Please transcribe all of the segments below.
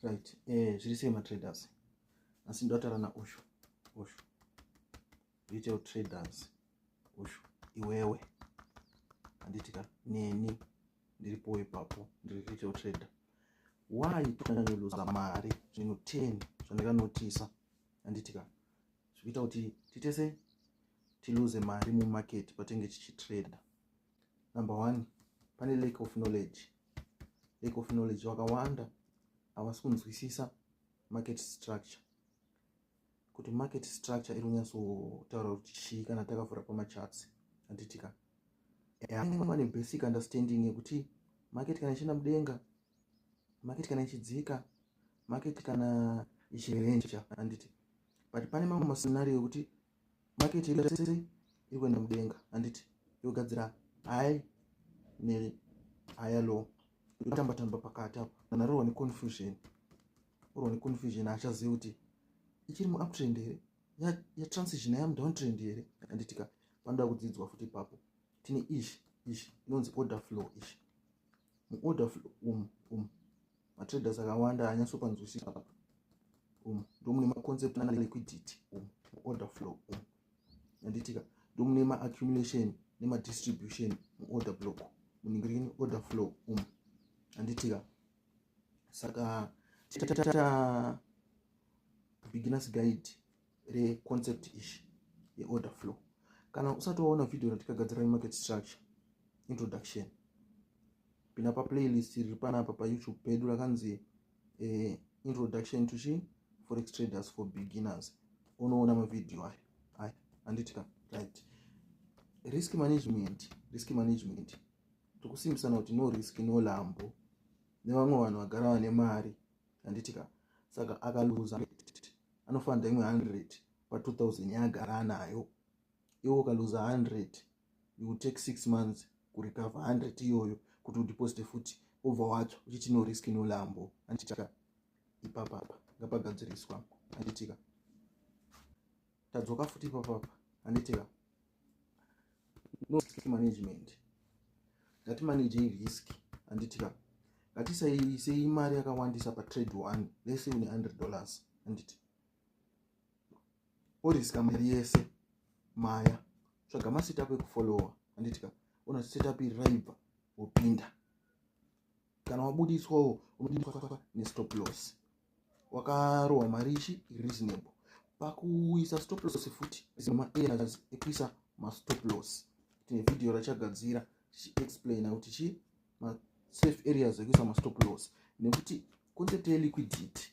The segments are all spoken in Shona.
right eh zviri sei matraders asi ndotaura naushu ushu retail traders ushu iwewe handiti ka neni ndiripo ipapo ndiri retail trader why tonyanyoluza mari zvinhu ten zvandakanotisa handiti ka zvikuita kuti titese tiluze mari mumarket patenge tichitrader number one pane lake of knowledge lake of knowledge vakawanda havasi kunzwisisa market structure kuti market structure iri kunyatsotaura kuti chii kana takavhura pamachats handitika vane basic understanding yekuti market kana ichienda mudenga market kana ichidzika market kana ichirenja handiti but pane mamwe mascenario yekuti maketi yese iri kuenda mudenga handiti yogadzira hai nehaya low yotamba tamba pakati apo kana rorwa neconfusion orwa neconfusion haachazivi kuti ichiri muuptrend here yatransition ya yamudown trend here handitika panoda kudzidzwa futi ipapo tine ish ish inonzi order flow ish muorder flow um um matraders akawanda haanyatsopanzwisisa apa umu ndomune maconcept ana liquidity umu muorder flow umu yanditika ndomune maaccumulation nemadistribution muorder block munenge rine order flow umu yanditika saka tata beginners guide reconcept ishi yeorder flow kana usati waona vhidhiyo ratikagadzira remarket structure introduction pina paplaylist riri panapa payoutube pedu rakanzi eh, introduction to chi forex traders for beginners unoona mavhidhiyo ayo aya handiti ka right risk management risk management tikusimbisana kuti no risk no lambo nevamwe vanhu vagara vane mari handitika saka akaluza anofanira imwe 100 pa 2000 yaagara anayo iwe ukaluza 100 you will take six months kurecover 100 iyoyo kuti udeposite futi obva watsva uchiti no risk no lambo handitika ipapapa ngapagadziriswa handitika tadzoka futi papapa anditika no risk management ngatimanagei risk anditika ngatisaisei mari yakawandisa patrade one lese une 100 dollars anditi oriska mari yese maya tsvaga masetup ekufollowa anditika ona setup iri raibva wopinda kana wabudiswawo unobudiswa nestop loss wakarohwa mari ichi reasonable pakuisa stop loss futi zimamaerrors ekuisa mastop loss tine vhidhiyo rachagadzira tichiexplaina kuti chii masafe areas ekuisa mastop loss nekuti concept yeliquidity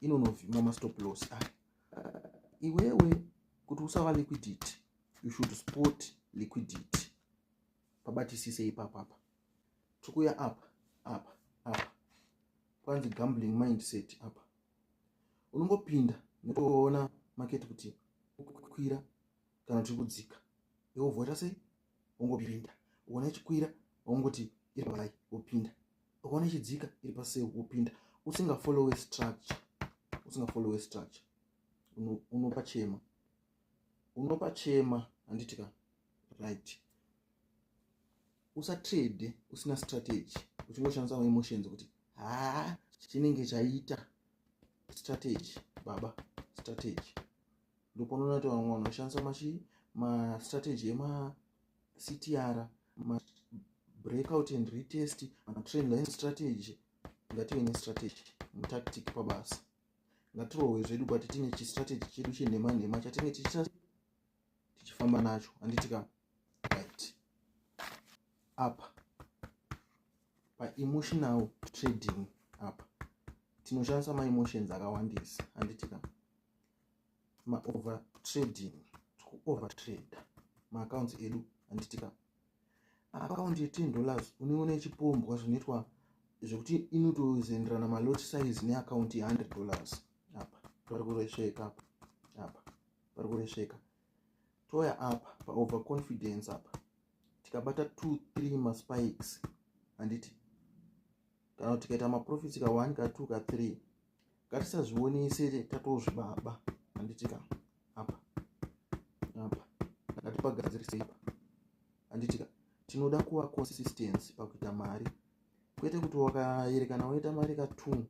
inonovhima mastop loss aya ah, iwewe kuti usava liquidity you should sport liquidity pabatisise ipapapa tikuya apa apa apa kwanzi gambling mindset apa unongopinda nekuona maketi kuti ukukwira kana kuti kudzika iwe vhota sei ungopinda uona ichikwira ungoti iri paai wopinda ukaona ichidzika iri pasei wopinda usingafollowe structure usingafollowe structure unopa chema unopa chema handiti ka right usatrade usina strategy uchingoshandisa maemotions kuti haa chinenge chaita strategy baba strategy ndopanoona kuti vamwe vanhu vashandisa machi mastrategy emactr mabreakout and retest matrain line strategy ngative nestrategy mutactic pabasa ngatirohwe zvedu but tine chistrategy chedu chenhema nhema chatinenge tichita tichifamba nacho handitika right apa paemotional trading apa tinoshandisa maemotions akawandisa handitika maover trading tikuover trade maaccounts edu handitika account ye10 dollars unoona ichipombwa zvinoitwa zvekuti inotozenderana malot size neaccount ye100 dollars apa tori kuresveka apa pari kuresveka touya apa paover confidence apa tikabata two three maspikes handiti kana kuti tikaita maprofits ka one ka two ka three ngatisazvionese tatozvibaba handiti ka apa apa ngatipagadzirisei apa handiti ka tinoda kuva consistency pakuita mari kwete kuti wakayerekana woita mari ka two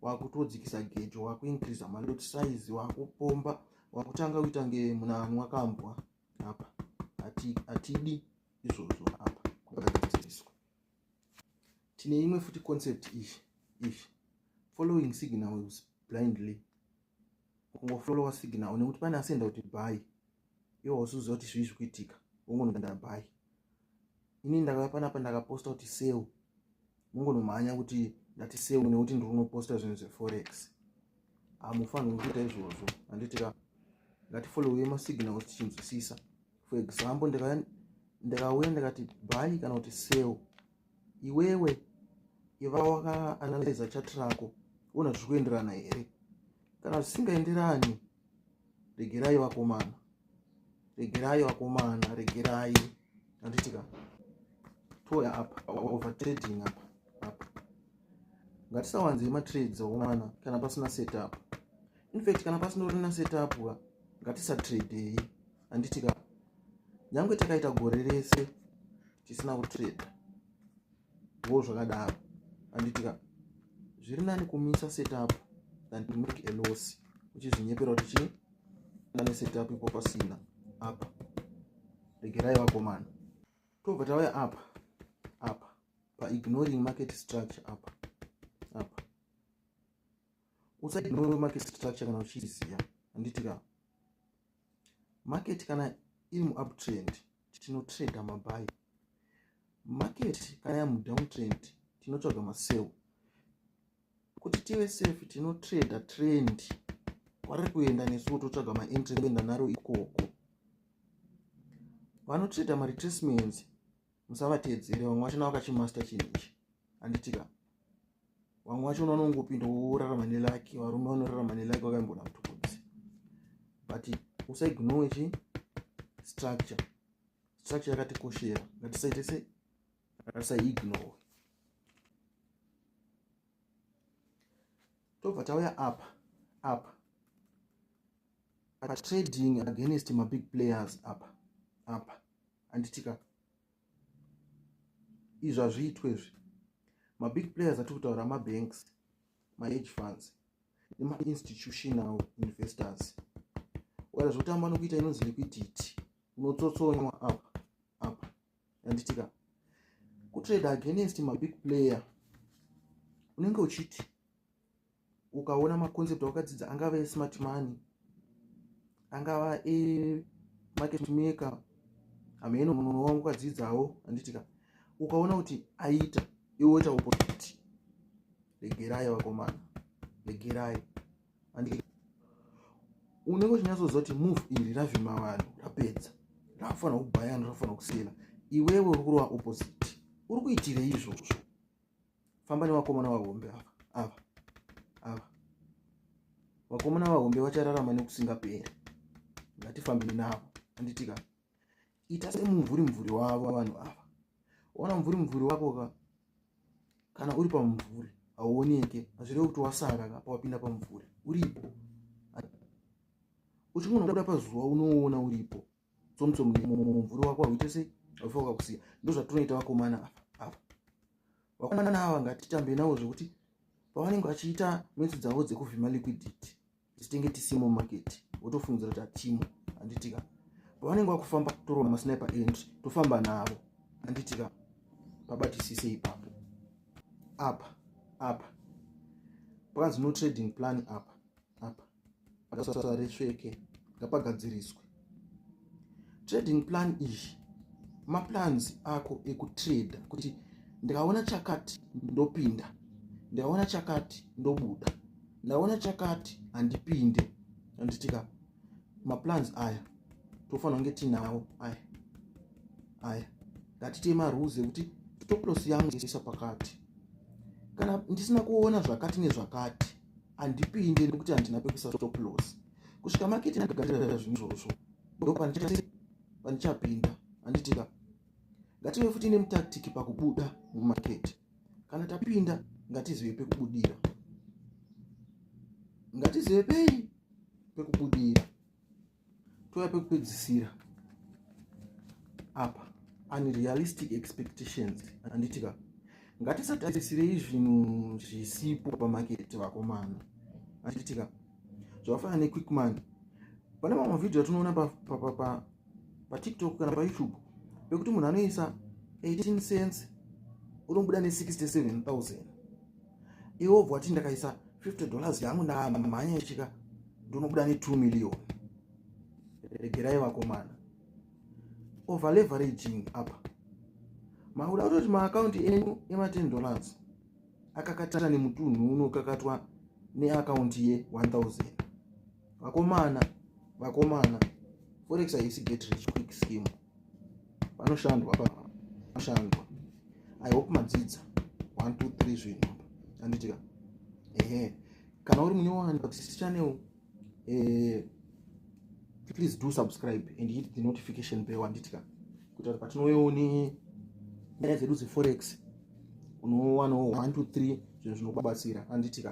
wakutodzikisa gejo wakuincreasa malot size wakupomba wakutanga kuita nge munhu anhu wakambwa apa hatidi izvozvo apa kwakagadziriswa tine imwe futi concept izvi izvi following signals blindly kungofolowa signal une kuti pane asenda kuti bhayi iwe wasuziva kuti zvii zvikuitika wongonoganda bhayi ini ndakauya panapa ndakaposta kuti seu mongonomhanya kuti ndati seu nekuti ndiri kunoposta zvinhu zveforex hamufanirwi ah, kuita izvozvo handitika ngatifolowei masignal kuti tichinzwisisa for example ndikauya ndikati bhayi kana kuti seu iwewe iva wakaanalyza chat rako ona zviri kuenderana here kana zvisingaenderani regerai vakomana regerai vakomana regerai anditika toya apa overtrading apa apa ngatisawanzei matrades akomana kana pasina setup infact kana pasina urina setup ka ngatisatradeyi handiti ka nyange takaita gore rese tisina kutreda wo zvakadaro handiti ka zviri nani kumisa setup than to make a loss uchizvinyepera kuti chii nane setup ipo pasina apa regerai vakomana tobva tauya apa apa paignoring market structure apa apa usaignore market structure kana uchiziva handiti ka market kana iri muuptrend tinotrader mabuy market kana yamudowntrend tinotsvaga masell kuti tive safe tinotrader trend kwari kuenda nesuwo totsvaga maentry kuenda naro ikoko vanotrader maretracements musavateedzere vamwe vacho navo kachimaster chinhu ichi handitika vamwe vacho unoona ungopinda worarama nelaki varume vanorarama nelaki vakaimboona kutokodzi but usaignore chi structure structure yakatikoshera ngatisaite se ngatisaignore tobva tauya apa apa patrading against mabig players apa apa anditika izvi hazviitwe izvi mabig players atiri kutaura mabanks maage funds nemainstitutional investors wara zvekutamba nokuita inonzi liquidity unotsotsonywa apa apa anditika kutrade against mabig player unenge uchiti ukaona maconcept awakadzidza angava esmart money angava emarket maker hameno munhu wangu ukadzidzawo anditika ukaona kuti aita iwe woita opposite regerai vakomana regerai andike unenge uchinyatsoziva kuti move iri ravhima vanhu rapedza rakufanira kubayana rakufanira kusiyana iwewe uri kurova opposite uri kuitirei izvozvo famba nevakomana vahombe ava ava ava vakomana vahombe vachararama nekusingaperi ngatifambiri navo anditika ita semumvuri mvuri wavo vanhu ava ona mvuri mvuri wako ka kana uri pamumvuri hauoneke hazvireve kuti wasara ka pawapinda pamumvuri uripo uchingonoda pazuva unoona uripo tsomutsomu mumvuri wako hauite sei aufa ukakusiya ndozvatinoita vakomana ava vakomana ava ngatitambe navo zvekuti pavanenge vachiita metso dzavo dzekuvhima liquidity tisitenge tisimo market wotofungidzira kuti hatimo handitika pavanenge vakufamba torova masniper end tofamba navo handitika pabatisise ipapo apa apa pakanzi no trading plan apa apa akasasa resveke ngapagadziriswe trading plan iyi maplans ako ekutrader kuti ndikaona chakati ndopinda ndikaona chakati ndobuda ndaona chakati handipinde anditika maplans aya tofanira kunge tinawo aya aya ngatite marules ekuti stoplos yangu isa pakati kana ndisina kuona zvakati nezvakati handipinde nekuti handina pekuisa stoplos kusvika maketi ndagagarira zvinhu izvozvo ndo pandichapinda handitika ngative futi nemutaktiki pakubuda mumaketi kana tapinda ngatizive pekubudira ngatizive pei pekubudira touya pekupedzisira apa unrealistic expectations anditika ngatisatarisirei zvinhu zvisipo pamaketi vakomana anditika zvakafanana nequickman pane mamwe mavhidhiyo atinoona patiktok kana payoutube pekuti munhu anoisa 18 cents unobuda ne 67000 iwe obva wati ndakaisa 50 dollars yangu ndamhanya ichika ndonobuda ne 2 million regerai vakomana over leveraging apa makuda kutoti maakaunti enyu ema 10 dollars akakatana nemutunhu unokakatwa neakaunti ye 1000 vakomana vakomana forex haisi get rich quick scheme panoshandwa panoshandwa i hope madzidza 1 2 3 zvinhu anditika ehe kana uri munyowani pakusis channel eh, please do subscribe and hit the notification bell anditika kuti kuti patinouyawo ne nyaya dzedu dzeforex unowanawo 1 2 3 zvinhu zvinokubatsira anditika